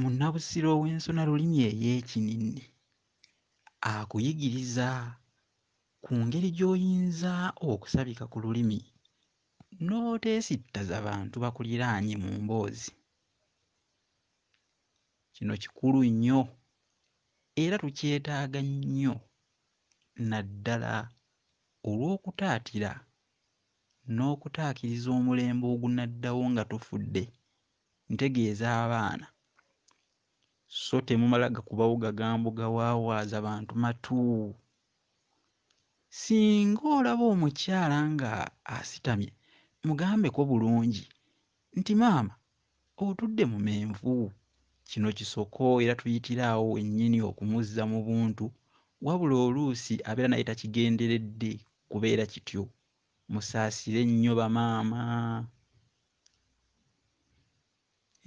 Munnabusiro ow'ensona lulimi ey'ekinnini akuyigiriza ku ngeri gy'oyinza okusabika ku lulimi n'oteesittaza bantu bakuliraanye mu mboozi. Kino kikulu nnyo era tukyetaaga nnyo naddala olw'okutaatira n'okutaakiriza omulembe ogunaddawo nga tufudde ntegeeza abaana so temumala gakubawo gagambo gawaawaaza bantu matu singa olaba omukyala nga asitamye mugambeko bulungi nti maama otudde mu menvu kino kisoko era tuyitira awo wennyini okumuzza mu buntu wabula oluusi abeera naye takigenderedde kubeera kityo musaasire nnyo bamaama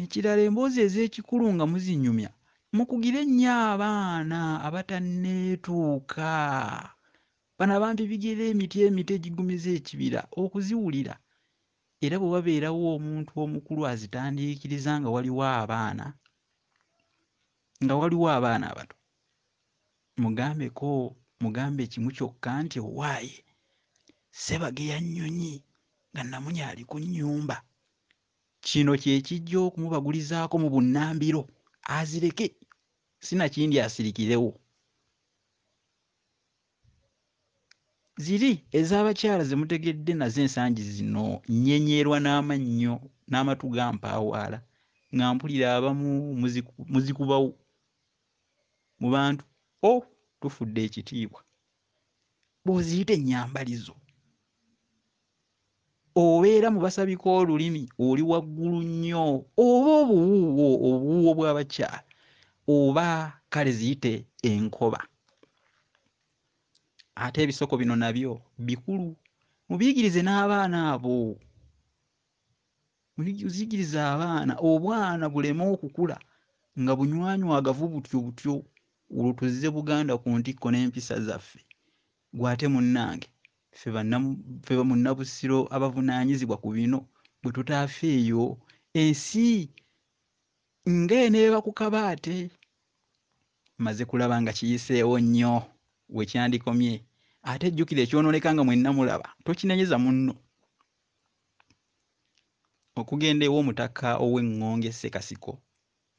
Ekirala emboozi ez'ekikulu nga muzinyumya mukugire nnyo abaana abatanneetuuka. Bano abantu ebigera emiti emito egigumiza ekibira okuziwulira era bwe wabeerawo omuntu omukulu azitandiikiriza nga waliwo abaana nga waliwo abaana abato. Mugambeko mugambe kimu kyokka nti owaaye Ssebageya nnyonyi nga nnamunya ali ku nnyumba. Kino kye kijja okumubagulizaako mu bunnambiro azireke si nakindi asirikirewo. Ziri ez'abakyala ze mutegedde nazo ensangi zino nnyenyerwa n'amannyo n'amatu gampaawaala nga mpulira abamu muzikubawo mu bantu o oh, tufudde ekitiibwa bw'oziyita ennyambalizo obeera mu basabika olulimi oli waggulu nnyo oba obuwuuwo obuwuuwo bw'abakyala oba kale ziyite enkoba ate ebisoko bino nabyo bikulu mubiyigirize n'abaana abo Muzikirize abaana obwana buleme okukula nga bunywanywaagavu butyo butyo olwo tuzze Buganda ku ntikko n'empisa zaffe. Gwe ate munnange ffe ffe Munnabusiro abavunaanyizibwa ku bino bwe tutaafeeyo ensi nga eneeba ku kabaate. Mmaze kulaba nga kiyiseewo nnyo we kyandikomye ate jjukira ekyonooneka nga mwenna mulaba tokinenyeza munno. Okugenda ew'omutaka ow'eŋŋonge Ssekasiko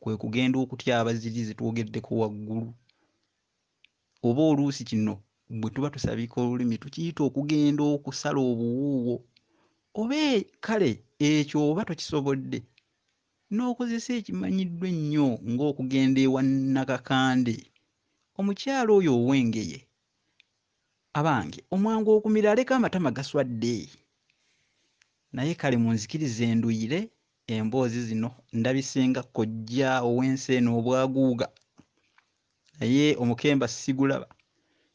kwe kugenda okutya Abazibi ze twogeddeko waggulu. Oba oluusi kino bwe tuba tusabiika olulimi tukiyita okugenda okusala obuwuuwo. Oba e, kale ekyo oba tokisobodde n'okozesa ekimanyiddwa ennyo ng'okugenda ewa Nnakakande. Omukyala oyo ow'Engeye abange omwangu okumira aleka amatama gaswadde naye kale munzikirize enduyire emboozi zino ndabise nga kojja ow'ensi eno obwaguuga naye omukemba sigulaba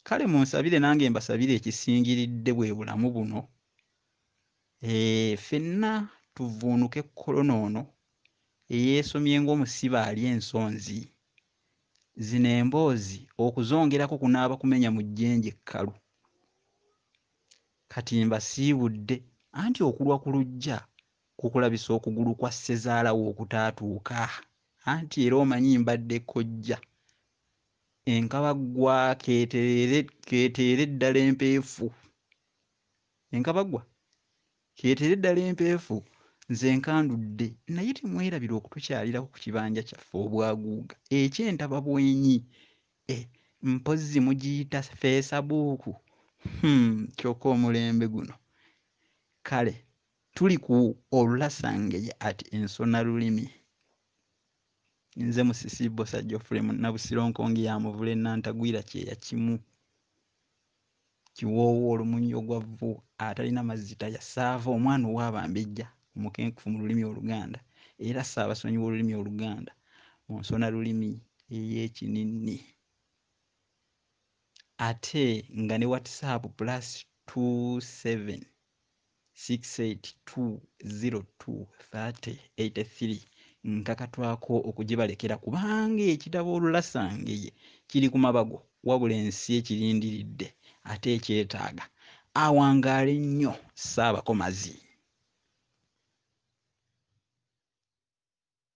kale munsabire nange mbasabire ekisingiridde bwe bulamu buno ee fenna tuvuunuke kolona ono eyeesomye ng'omusibe alya ensonzi Zino emboozi okuzongerako kunaaba kumenya mu jjenje ekkalu. Kati mbasiibudde anti okulwa ku luggya kukulabisa okugulu kwa ssezaala wo okutaatuuka anti era omanyi mbadde kkojja. Enkaba ggwa keetereere keeteere ddala empeefu. Enkaba ggwa Kireetere ddala empeefu. Nze nkandudde. Naye temwerabira okutukyalirako ku kibanja kyaffe obwaguuga eky'entababwenyi. Eh, mpozzi mugiyita feesabuuku? Hum, kyoka omulembe guno. Kale tuli ku Olulasangeye at Ensona Lulimi. Nze Musisi Bbosa Geoffrey Munnabusiro Nkonge ya Muvule Nantagwira kyeya kimu. kiwoowo olumunyi ogwa vvu atalina mazzi talya ssaava omwana ow'abambejja omukenkufu mu lulimi oluganda era ssaabasonyi w'olulimi oluganda mu nsona lulimi ey'ekininni ate nga ne whatsapp plus 27 68202383 nkakatwako okugibalekera kubanga ekitabo olulasangeye kiri ku mabago wabula ensi ekirindiridde ate ekyetaaga awangaale nnyo ssaabakomazi